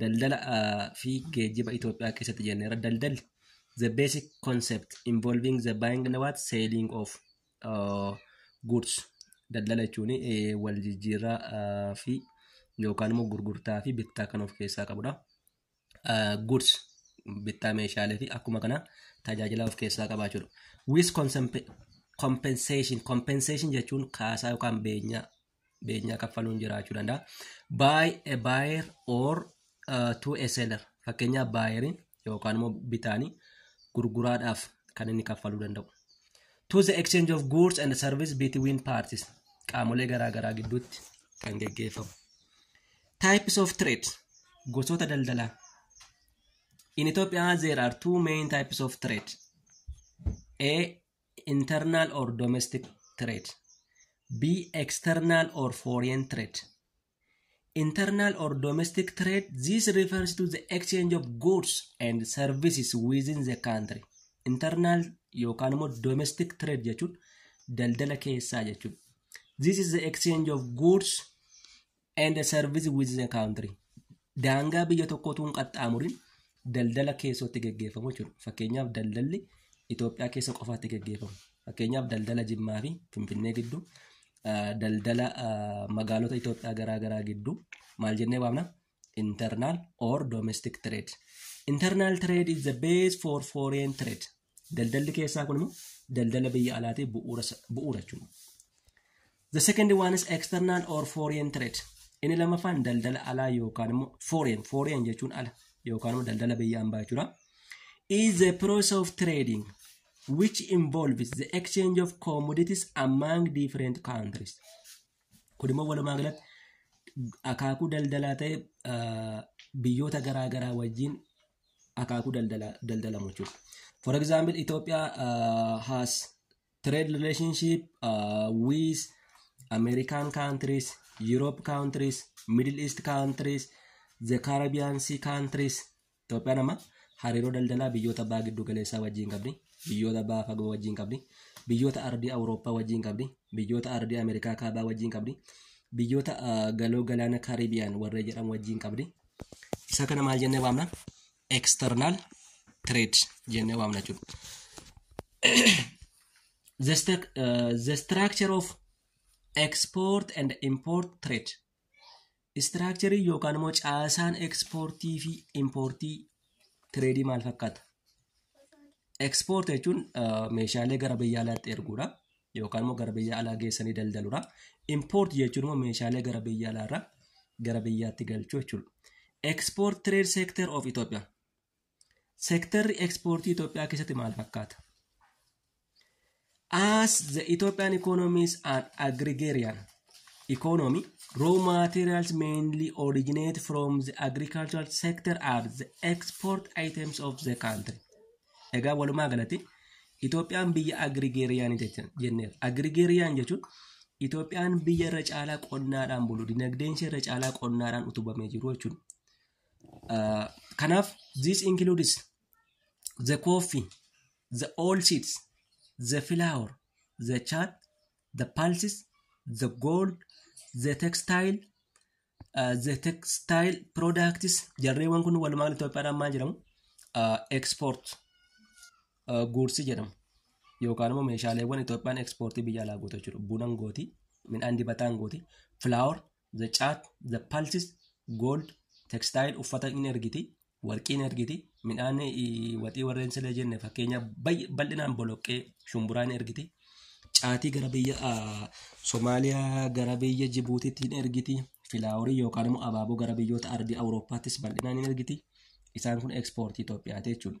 daldala fi geejjiba Itoophiyaa keessatti jenneera. Daldalli the basic concept involving the buying and what selling of uh, goods daldala jechuun wal jijjiirraa uh, fi yookaan immoo gurgurtaa fi bittaa kan of keessaa qabudha. Uh, goods bittaa meeshaalee fi akkuma kana tajaajila of keessaa qaba jechuudha. With compensation compensation jechuun kaasaa yookaan beenyaa beenyaa kaffaluun jiraachuu danda'a. Buy a buyer or uh, to a seller fakkeenyaaf baayeriin yookaan immoo bitaanii gurguraadhaaf kan inni kaffaluu danda'u. To the exchange of goods and service between parties qaamolee garaagaraa gidduutti kan geggeeffamu. Types of trade gosoota daldalaa. In Ethiopia there are two main types of trade. A internal or domestic threat B external or foreign threat internal or domestic threat this refers to the exchange of goods and services within the country internal yookaan immoo domestic threat jechuun daldala keessaa jechuudha this is the exchange of goods and service with the country daangaa biyya tokko utuu hin qaxxaamurin daldala keessootti geggeeffamu jechuudha. Fakkeenyaaf daldalli Itoophiyaa keessa qofaatti geggeeffamu. Fakkeenyaaf daldala Jimmaa fi Finfinnee gidduu ah, daldala ah, magaalota Itoophiyaa garaa garaa gidduu maal jennee waamna? Internal or domestic trade. Internal trade is the base for foreign trade. Daldalli keessaa kun immoo daldala biyya alaatii bu'uura bu'uura jechuudha. The second one is external or foreign trade. Inni lammaffaan daldala alaa yookaan immoo foreign foreign jechuun ala yookaan immoo daldala biyya ambaa jechuudha. Is the process of trading which involves the exchange of commodities among different countries. Kun immoo walumaa galatti akaakuu daldalaa ta'e ah, biyyoota garaa garaa wajjin akaakuu daldala daldalamu jechuudha. For example, Ethiopia uh, has trade relationship uh, with American countries, Europe countries, Middle East countries, the Caribbean Sea countries. Itoophiyaan amma hariiroo daldalaa biyyoota baha giddu galeessaa wajjin qabdi, biyyoota baha fagoo wajjin qabdi, biyyoota ardii Awurooppaa wajjin qabdi, biyyoota ardii Ameerikaa kaabaa wajjin qabdi, biyyoota uh, galoo galaana Caribbean warree jedhamu wajjin qabdi. Isa kana maal jennee waamna? External trade jennee waamna jechuudha. The, st uh, the structure of export and import trade. Istiraakcharii yookaan immoo caasaan ekspoortii fi impoortii tireedii maal fakkaata? Ekspoorti jechuun meeshaalee gara biyya alaatti erguudha. Yookaan immoo gara biyya alaa geessanii daldaluudha. Impoorti jechuun immoo meeshaalee gara biyya alaarraa gara biyyaatti galchuu jechuudha. Ekspoort tireed seektar of Itoophiyaa. Seektarri ekspoortii Itoophiyaa keessatti maal fakkaata? As the Ethiopian economy is an agrarian economy, raw materials mainly originate from the agricultural sector are the export items of the country. Egaa walumaa galatti Itoophiyaan biyya agrigarian jenneera. Agrigarian jechuun Itoophiyaan biyya irra caalaa qonnaadhaan bulu, dinagdeen ishee irra caalaa qonnaadhaan utubamee jiru jechuudha. Uh, kanaaf this includes the coffee the all seeds the flour the chat the pulses the gold the textile uh, the textile products jarreewwan kun walumaa galatti Itoophiyaadhaan maal jedhamu uh, export uh, goods jedhamu yookaan immoo meeshaaleewwan Itoophiyaan ekspoortii biyya alaa gootu jechuudha. Bunan gooti, midhaan dibataan gooti, flour, the chat, the pulses, gold, textile uffata in ergiti, warqii in ergiti, midhaan eh, waxii warreen sila jenne fakkeenya bayy- bal'inaan boloqqee shumburaa in ergiti, caatii gara biyya ah, Somaaliyaa gara biyya Jibuutiitti in ergiti, filaaworii yookaan immoo abaaboo gara biyyoota ardii Awurooppaattis bal'inaan in ergiti. Isaan kun ekspoortii Itoophiyaati jechuudha.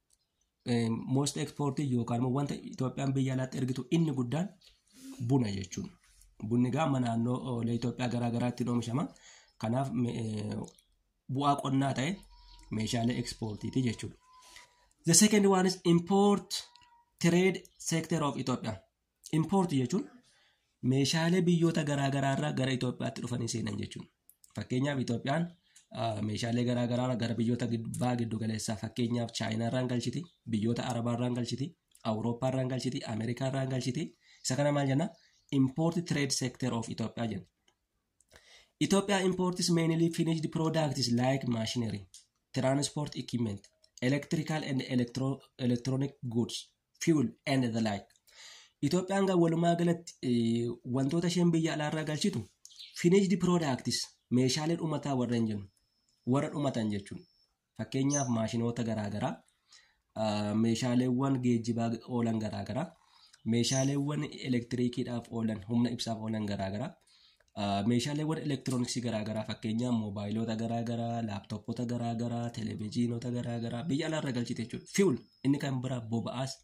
most exported yookaan immoo wanta Itoophiyaan biyya alaatti ergitu inni guddaan buna jechuun. Bunni egaa amma naannoo Itoophiyaa garaa garaatti oomishama. Kanaaf bu'aa qonnaa ta'e meeshaalee ekspoortiiti jechuudha. The second one is import trade sector of Ethiopia. Impoortii jechuun meeshaalee biyyoota garaagaraa irraa gara Itoophiyaatti dhufanii seenan jechuudha. Fakkeenyaaf Itoophiyaan meeshaalee garaagaraa gara biyyoota baha giddu galeessaa fakkeenyaaf Chaayinaa irraan galchiti, biyyoota Arabaa irraan galchiti, Awurooppaa irraan galchiti, Ameerikaa irraan galchiti. Isa kana maal jenna? Import trade sector of Itoophiyaa jenna. Itoophiyaa imports mainly finished products like machinery, transport equipment, electrical and electro electronic goods fuel and the like. Itoophiyaan kan walumaa galatti wantoota isheen biyya alaarraa galchitu finished products meeshaalee dhumataa warra hin jennu warra dhumatan jechuun fakkeenyaaf maashinoota garaagaraa meeshaaleewwan geejjibaa oolan garaagaraa meeshaaleewwan elektiriikiidhaaf oolan humna ibsaaf oolan garaagaraa Meeshaaleewwan elektirooniksii garaagaraa fakkeenyaaf moobaayiloota garaagaraa, laaptooppota garaagaraa, televezyiinota garaagaraa biyya alaarra galchite jechuudha. Fuel inni kan biraa boba'aas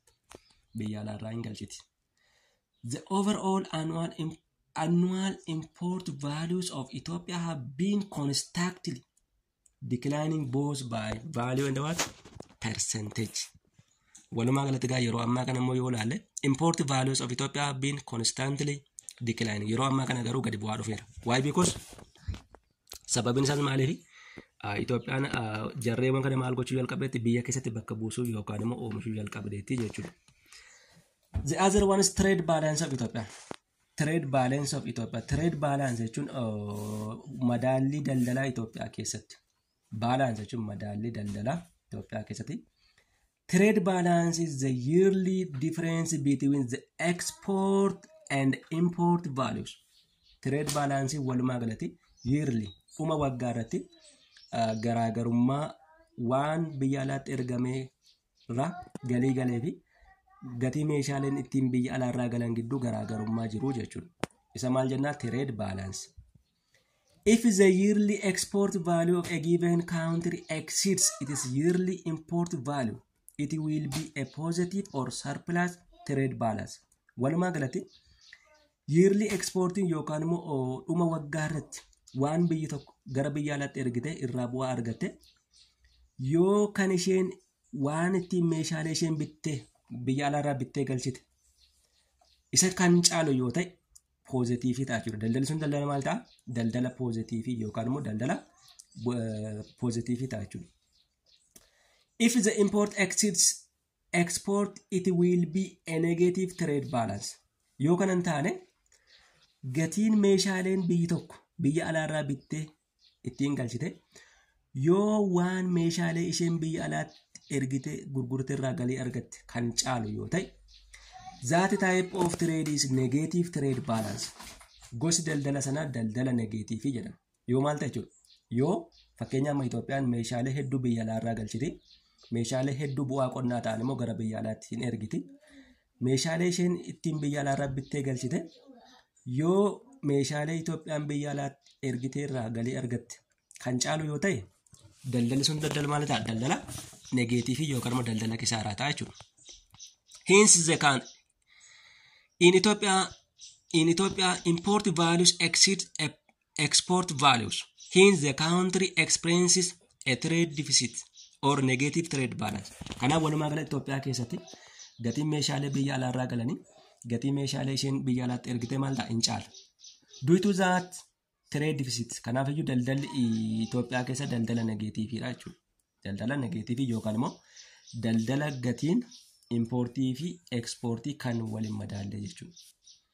biyya alaarraa hin galchiti. The overall annual, im- annual import values of Ethiopia have been constantly declining both by value and what percentage walumaa galatti gaa yeroo ammaa kana immoo yoo ilaalle import values of Ethiopia have been constantly declining yeroo ammaa kana garuu gadi bu'aa dhufeera why because sababiin isaas maaliif Itoophiyaan jarreewwan kana maal gochuu jalqabdeetti biyya keessatti bakka buusuu yookaan immoo oomishuu jalqabdeetti jechuudha. The other one is trade balance of Ethiopia. Trade balance of Ethiopia. Trade balance jechuun madaallii daldalaa Itoophiyaa keessatti. Balance jechuun madaallii daldalaa Itoophiyaa keessatti. Trade balance is the yearly difference between the export and import values. Trade balance walumaa galatti yearly dhuma waggaa irratti garaagarummaa waan biyya alaatti ergamee irraa galii galee fi gatii meeshaaleen ittiin biyya alaarraa galan gidduu garaagarummaa jiru jechuudha. Isa maal jennaa trade balance. If the yearly export value of a given country exceeds its yearly import value, it will be a positive or surplus trade balance. Walumaa galatti Yearly exportiin yookaan immoo oo, dhuma waggaa irratti waan biyyi tokko gara biyya alaatti ergite irraa bu'aa argatte yoo kan isheen waan ittiin meeshaalee isheen bittee biyya alaarraa bittee galchite isa kan caalu yoo ta'e poozitiivii ta'a jechuudha. Daldalli sun daldala maal ta'a? Daldala poozitiivii yookaan immoo daldala poozitiivii ta'a jechuudha. If the import exceeds export it will be a negative trade balance yoo kana hin taane gatiin meeshaaleen biyyi tokko biyya alaarraa bittee ittiin galchite yoo waan meeshaalee isheen biyya alaatti ergite gurgurte irraa galii argatte kan caalu yoo ta'e zaati type of trade is negative trade balance gosi daldala sanaa daldala negatiivii jedhama Yoo maal ta'e jechuudha? Yoo fakkeenya amma Itoophiyaan meeshaalee hedduu biyya alaa irraa galchiti. Meeshaalee hedduu bu'aa qonnaa ta'an immoo gara biyya alaatti hin ergiti. Meeshaalee isheen ittiin biyya alaa irraa bittee galchite yoo meeshaalee Itoophiyaan biyya alaatti ergitee irraa galii argatte kan caalu yoo ta'e daldalli sun daldala maal ta'a? Daldala negeetiivii yookaan immoo daldala kisaaraa ta'a jechuudha. Hence the can in Ethiopia in Ethiopia import values exceed a export values in the country experiences a trade deficit or negative trade balance. Kanaaf walumaa gala Itoophiyaa keessatti gatiin meeshaalee biyya alaarraa galanii gatii meeshaalee isheen biyya alaatti ergite maal ta'a hin caala. Due to that trade deficit kanaaf iyyuu daldalli Itoophiyaa keessa daldala negeetiiviidha jechuudha. Daldala negeetiivii yookaan immoo daldala gatiin impoortii fi ekspoortii kan waliin madaallee jechuudha.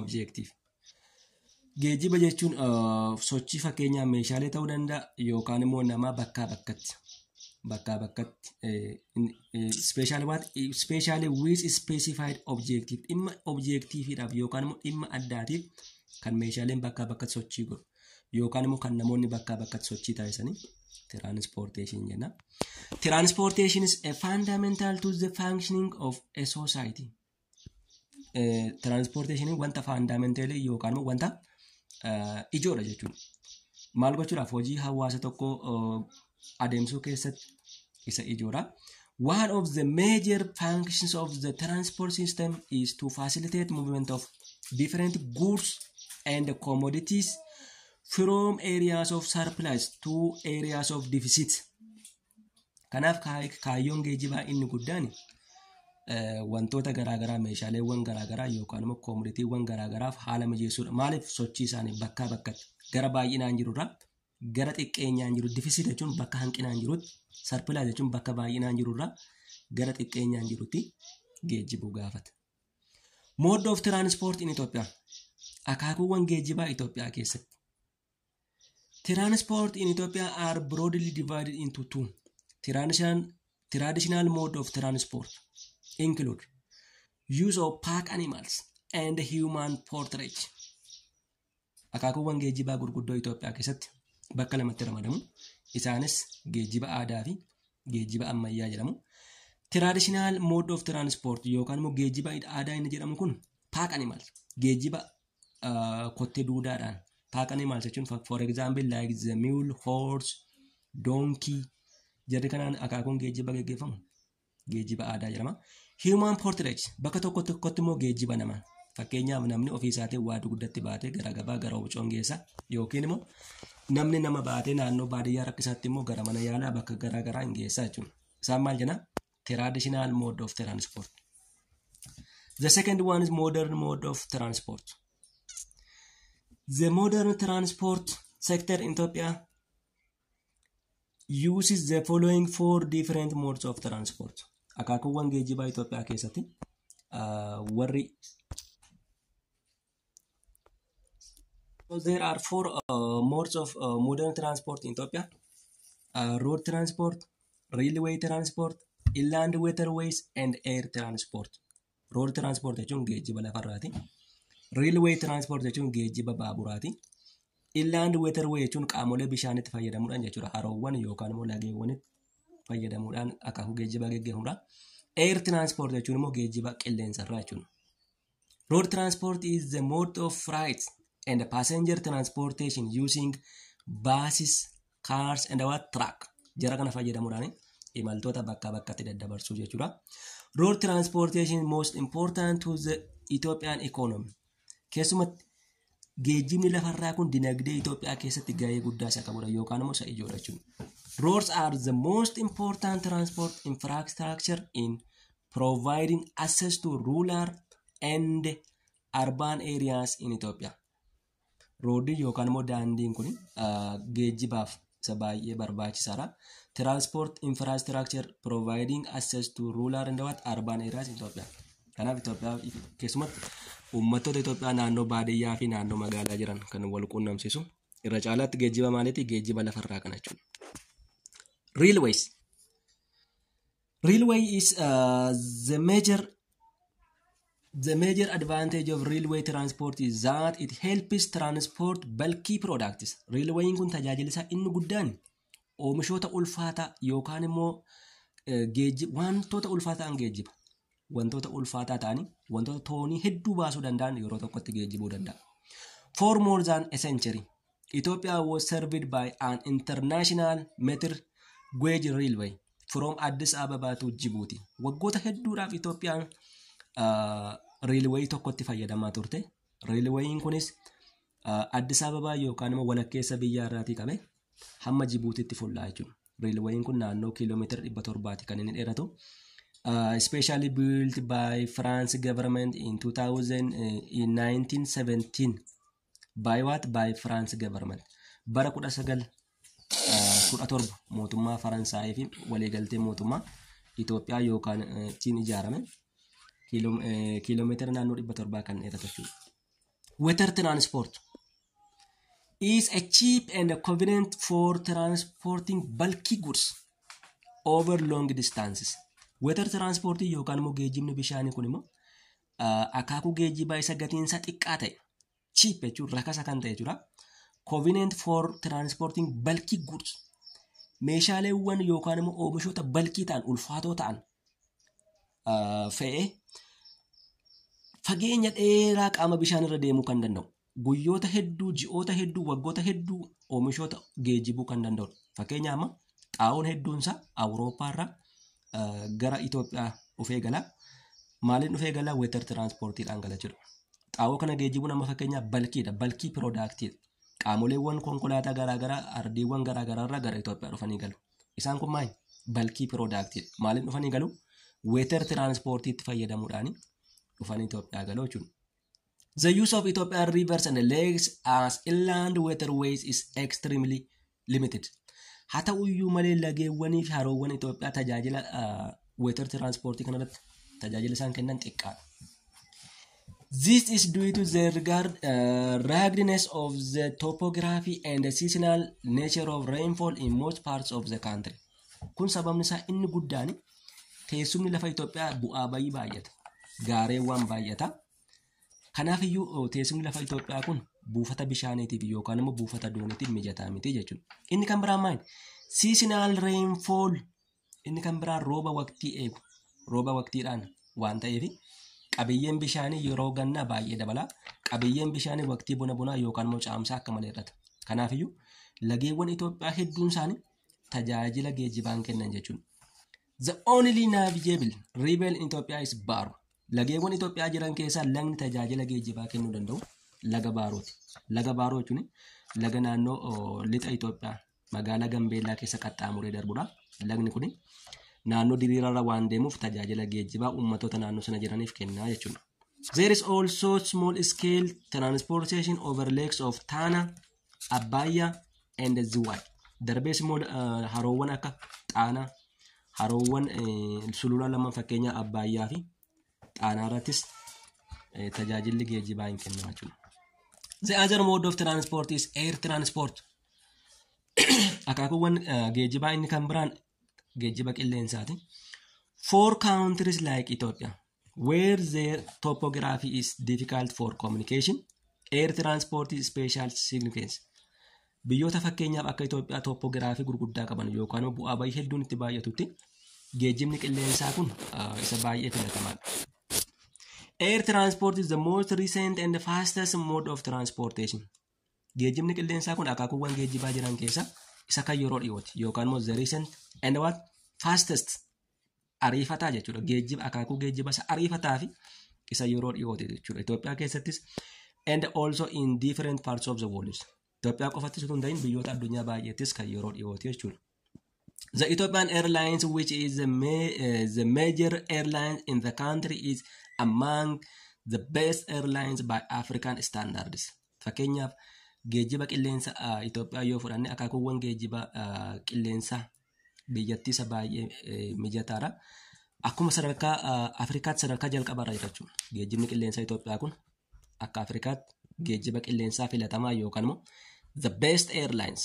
Objective. Geejjiba jechuun uh, sochii fakkeenyaa meeshaalee ta'uu danda'a yookaan immoo namaa bakkaa bakkatti. Bakkaa bakkatti. Speeshaal waat speeshaalee wiis ispeesifaayid objektiif dhimma objektiifiidhaaf yookaan immoo dhimma addaatiif kan meeshaaleen bakkaa bakkatti sochii godhu yookaan immoo kan namoonni bakkaa bakkatti sochii taasisanii tiraanispoorteeshinii jenna. Tiraanispoorteeshiin is a fundamental to the functioning of a society. tiraanspoorteeshiniin wanta faandaamenteelii yookaan immoo wanta ijoodha jechuudha. Maal gochuudhaaf hojii hawaasa tokko adeemsuu keessatti isa ijoodha. One of the major functions of the transport system is to facilitate movement of different goods and commodities from areas of surplus to areas of deficit. Kanaaf kaayyoon geejibaa inni guddaan wantoota garaagaraa meeshaaleewwan garaagaraa yookaan immoo koomoditiiwwan garaagaraaf haala mijeessuudha. Maaliif sochii isaanii bakkaa bakkatti gara baay'inaan jirurraa gara xiqqeenyaan jiru difisiit jechuun bakka hanqinaan jirutti sarpilaa jechuun bakka baay'inaan jirurraa gara xiqqeenyaan jirutti geejjibuu gaafata. Mode of transport in Ethiopia. Akaakuuwwan geejjibaa Itoophiyaa keessatti. Transport in Ethiopia are broadly divided into two. Traditional, traditional mode of transport include use of pack animals and human portage. Akaakuuwwan geejjibaa gurguddoo Itoophiyaa keessatti bakka lamatti ramadamu. Isaanis geejjiba aadaa fi geejjiba ammayyaa jedhamu. Traditional mode of transport yookaan immoo geejjiba aadaa inni jedhamu kun pack animals geejjiba uh, kottee duudaadhaan taaqanii maal jechuun for example like the mule horse donkey jarri kanaan akaakuun geejjiba geggeeffamu geejjiba aadaa jedhama human portrait bakka tokko tokkotti immoo geejjiba nama fakkeenyaaf namni ofii isaatiin waa dugdatti baatee gara gabaa gara wucoon geessa yookiin immoo namni nama baatee naannoo baadiyyaa rakkisaatti immoo gara mana yaalaa bakka garaa garaa hin geessa jechuudha isaan maal jenna Traditional mode of transport. The second one is modern mode of transport. The modern transport sector in Ethiopia uses the following four different modes of transport. Akaakuuwwan geejjibaa Itoophiyaa keessatti warri So there are four uh, modes of uh, modern transport in Ethiopia: uh, road transport, railway transport, inland waterways, and air transport. Road transport jechuun geejjiba lafarraati. Railway transport jechuun geejjiba baaburaati. Inland waterway jechuun qaamolee bishaanitti fayyadamuudhaan jechuudha. Haroowwan yookaan immoo lageewwanitti fayyadamuudhaan akaakuu geejjibaa geggeeffamudha. Air transport jechuun immoo geejjiba qilleensarraa jechuudha. Road transport is the mode of freight and passenger transportation using buses, cars and what truck. Jara kana fayyadamuudhaan imaltoota bakkaa bakkatti daddabarsuu jechuudha. Road transportation most important to the Ethiopian economy. Keessumatti Geejjibni lafarraa kun dinagdee Itoophiyaa keessatti gahee guddaa isa qabudha yookaan immoo isa ijoodha jechuudha. Roads are the most important transport infrastructure in providing access to rural and urban areas in Ethiopia. Roodiin yookaan immoo daandiin kun geejjibaaf isa baay'ee barbaachisaadha. Transport infrastructure providing access to rural and what urban areas in Ethiopia. Kanaaf Itoophiyaa keessumatti uummattoota Itoophiyaa naannoo baadiyyaa fi naannoo magaalaa jiran kan wal quunnamsiisu irra caalaatti geejjiba maaliiti geejjiba lafarraa kana jechuudha. Railways Railway is uh, the major the major advantage of railway transport is that it helps transport bulky products. Railwayin kun tajaajila isaa inni guddaan oomishoota ulfaataa yookaan immoo eh, geejji- wantoota ulfaataa ta'an geejjiba. Wantoota ulfaataa ta'anii wantoota toonii hedduu baasuu danda'an yeroo tokkotti geejjibuu danda'a. For more than a century, Ethiopia was served by an international meter gauge railway. from Addis Ababa to Djibouti. Waggoota hedduudhaaf Itoophiyaan reelwayii tokkotti fayyadamaa turte. Reelwayiin kunis Addis Ababaa yookaan immoo walakkeessa biyyaa irraatii qabe hamma Jibuutiitti fullaa jechuudha. Reelwayiin kun naannoo kiiloomeetira dhibba torbaati kan inni dheeratu. Specially built by France government in 2000, in 1917 by what by France government bara 19 17 mootummaa Faransaayii fi waliigaltee mootummaa Itoophiyaa yookaan eh, ittiin ijaarame kiiloo- eh, kiiloomeetira naannoo 700 kan dheeratu jechuudha. Weather transport is a cheap and convenient for transporting bulky goods over long distances. Weather transport yookaan immoo geejjibni bishaanii kun immoo akaakuu geejjibaa isa gatiin isaa xiqqaa ta'e cheap jechuun rakasa kan ta'e jechuudha. Convenient for transporting bulky goods meeshaaleewwan yookaan immoo oomishoota balkii ta'an ulfaatoo ta'an fe'ee fageenya dheeraa qaama bishaan irra deemuu kan danda'u guyyoota hedduu, ji'oota hedduu, waggoota hedduu oomishoota geejjibuu kan danda'udha. Fakkeenya amma xaa'oon hedduun isaa Awurooppaa irraa eh, gara Itoophiyaa dhufee gala. Maaliin dhufee gala? Weetar tiraansppoortiidhaan gala jechuudha. Xaa'oo kana geejjibuun amma fakkeenyaaf balkiidha. Balkii piroodaaktiidha. Qaamoleewwan konkolaataa garaagaraa ardiiwwan garaagaraa irraa gara Itoophiyaa dhufanii galu. Isaan kun maali? Balkii piroodaaktiidha. Maaliin dhufanii galu? Weetar tiraansppoortiitti fayyadamuudhaan dhufanii Itoophiyaa galu jechuudha. The use of Ethiopian rivers and lakes as inland waterways is extremely limited. Haa ta'u iyyuu malee lageewwanii fi haroowwan Itoophiyaa tajaajila weetar tiraanspoortii kanarratti tajaajila isaan kennan xiqqaadha. This is due to the regard, uh, ruggedness of the topography and the seasonal nature of rainfall in most parts of the country. Kun sababni isaa inni guddaan teessumni lafa Itoophiyaa bu'aa bayii baay'ata. Gaareewwan baay'ata. Kanaaf iyyuu teessumni lafa Itoophiyaa kun buufata bishaaniitiif yookaan immoo buufata dooniitiif mijataa miti jechuudha. Inni kan biraan maali? Seasonal rainfall inni kan biraan rooba waqtii eegu. Rooba waqtiidhaan waan ta'eef qabiyyeen bishaanii yeroo gannaa baay'ee dabala. Qabiyyeen bishaanii waqtii bona bonaa yookaan immoo caamsaa akka malee hir'ata. Kanaaf iyyuu lageewwan Itoophiyaa hedduun isaanii tajaajila geejjibaan kennan jechuudha. The only navigable river in Ethiopia is Baro. Lageewwan Itoophiyaa jiran keessaa lagni tajaajila geejjibaa kennuu danda'u laga Baarooti. Laga Baaroo jechuun laga naannoo oo, lixa Itoophiyaa magaalaa Gambeellaa keessa qaxxaamuree darbudha. Lagni kun naannoo diriiraarra waan deemuuf tajaajila geejjibaa uummattoota naannoo sana jiraniif kennaa jechuudha. There is also small scale transportation over lakes of Tana, Abbaayyaa and Ziwaay. Darbees immoo eh, haroowwan akka Xaanaa, haroowwan eh, sulula lamaan fakkeenyaa Abbaayyaa fi Xaanaa irrattis eh, tajaajilli geejjibaa hin kennama jechuudha. The other mode of transport is air transport. Akaakuuwwan eh, geejjibaa inni kan biraan geejjiba qilleensaati. Four countries like Ethiopia. Where their topography is difficult for communication, air transport is special significance. Biyyoota fakkeenyaaf akka Itoophiyaa topogiraafii gurguddaa qaban yookaan bu'aa bayii hedduun itti baay'atutti geejjibni qilleensaa kun ah, isa baay'ee filatamaadha. Air transport is the most recent and fastest mode of transportation. Geejjibni qilleensaa kun akaakuuwwan geejjibaa jiran keessaa isa kan yeroo dhiyooti yookaan immoo the recent and what fastest ariifataa jechuudha. Geejjiba akaakuu geejjiba isa ariifataa fi isa yeroo dhiyooti jechuudha. Itoophiyaa keessattis and also in different parts of the world. Itoophiyaa qofattis utuu hin ta'in biyyoota addunyaa baay'eettis kan yeroo dhiyooti jechuudha. The Ethiopian Airlines, which is the, ma- uh, the major airline in the country, is among the best airlines by African standards. Fakkeenyaaf geejjiba qilleensa uh, Itoophiyaa yoo fudhanne akaakuuwwan geejjiba uh, qilleensaa biyyattii isa baay'ee mijataadha. Akkuma sadarkaa Afrikaatti sadarkaa jalqabaarra jira jechuudha. Geejjibni qilleensaa Itoophiyaa kun akka Afrikaatti geejjiba qilleensaa filatamaa yookaan immoo the best airlines.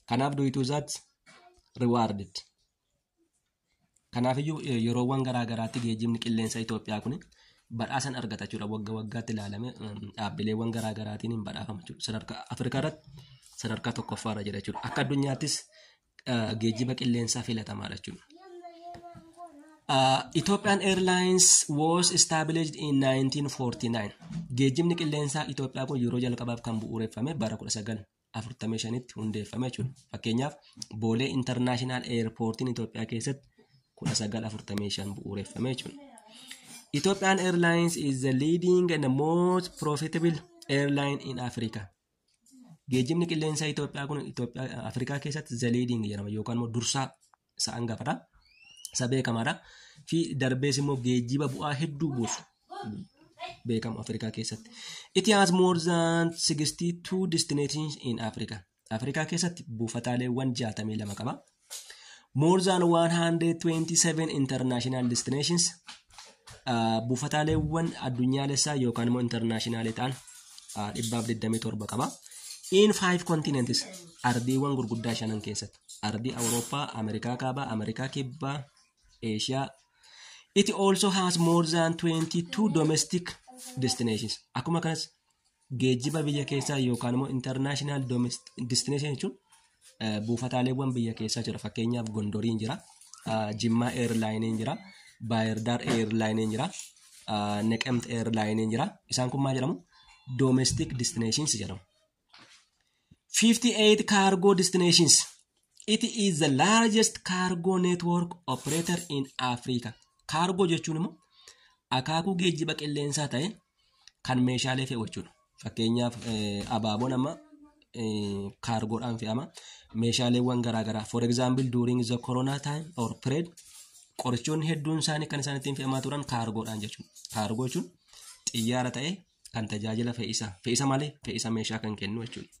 Kanaaf duwituu isaatti rewarded. Kanaafiyyuu yeroowwan garaa garaatti geejjibni qilleensa Itoophiyaa kun badhaasan argata jechuudha. Wagga waggaatti ilaalame dhaabbileewwan garaa garaatiin hin badhaafama jechuudha. Sadarkaa Afrikaa irratti sadarkaa tokkoffaa irra jira jechuudha. Akka addunyaattis geejjiba qilleensaa filatamaadha jechuudha. Uh, Ethiopian Airlines was established in 1949. Geejjibni qilleensaa Itoophiyaa kun yeroo jalqabaaf kan bu'uureffame bara 1949 45tti hundeeffame jechuudha. Fakkeenyaaf Boolee Intarnaashinaal Eerpoortiin Itoophiyaa keessatti 1945 bu'uureffame jechuudha. Ethiopian Airlines is the leading and most profitable airline in Africa. Geejjibni qilleensaa Itoophiyaa kun Itoophiyaa Afrikaa keessatti the leading jedhama yookaan immoo dursaa isa angafadha. Isa beekamaadha. Fi darbees immoo geejjiba bu'aa hedduu buusu beekamu Afrikaa keessatti. It has more than 62 destinations in Africa. Afrikaa keessatti buufataaleewwan 62 qaba. More than 127 international destinations uh, buufataaleewwan addunyaalessaa yookaan immoo internationaalii ta'an uh, 127 qaba. In five continents ardiiwwan gurguddaa shanan keessatti. Ardii Awurooppaa, Ameerikaa Kaabaa, Ameerikaa Kibbaa, Eeshiyaa. It also has more than 22 domestic destinations. Akkuma kanas geejjiba biyya keessaa yookaan immoo international domestic destination jechuun eh, buufataaleewwan biyya keessaa jira. Fakkeenyaaf Gondoriin jira, ah, Jimmaa Airline'n jira, Baayirdaar Airline'n jira, ah, Neqemt Airline'n jira. Isaan kun maal jedhamu? Domestic destinations jedhamu. 58 cargo destinations. It is the largest cargo network operator in Africa. Cargo jechuun immoo akaakuu geejjiba qilleensaa ta'e kan meeshaalee fe'u jechuudha. Fakkeenyaaf abaaboon amma kaargoodhaan fe'ama. Meeshaaleewwan garaagaraa for example during the corona time or period qorichoonni hedduun isaanii kan isaan ittiin fe'amaa turan kaargoodhaan jechuudha. Kaargoo jechuun xiyyaara ta'ee kan tajaajila fe'isa fe'isa malee fe'isa meeshaa kan kennu jechuudha.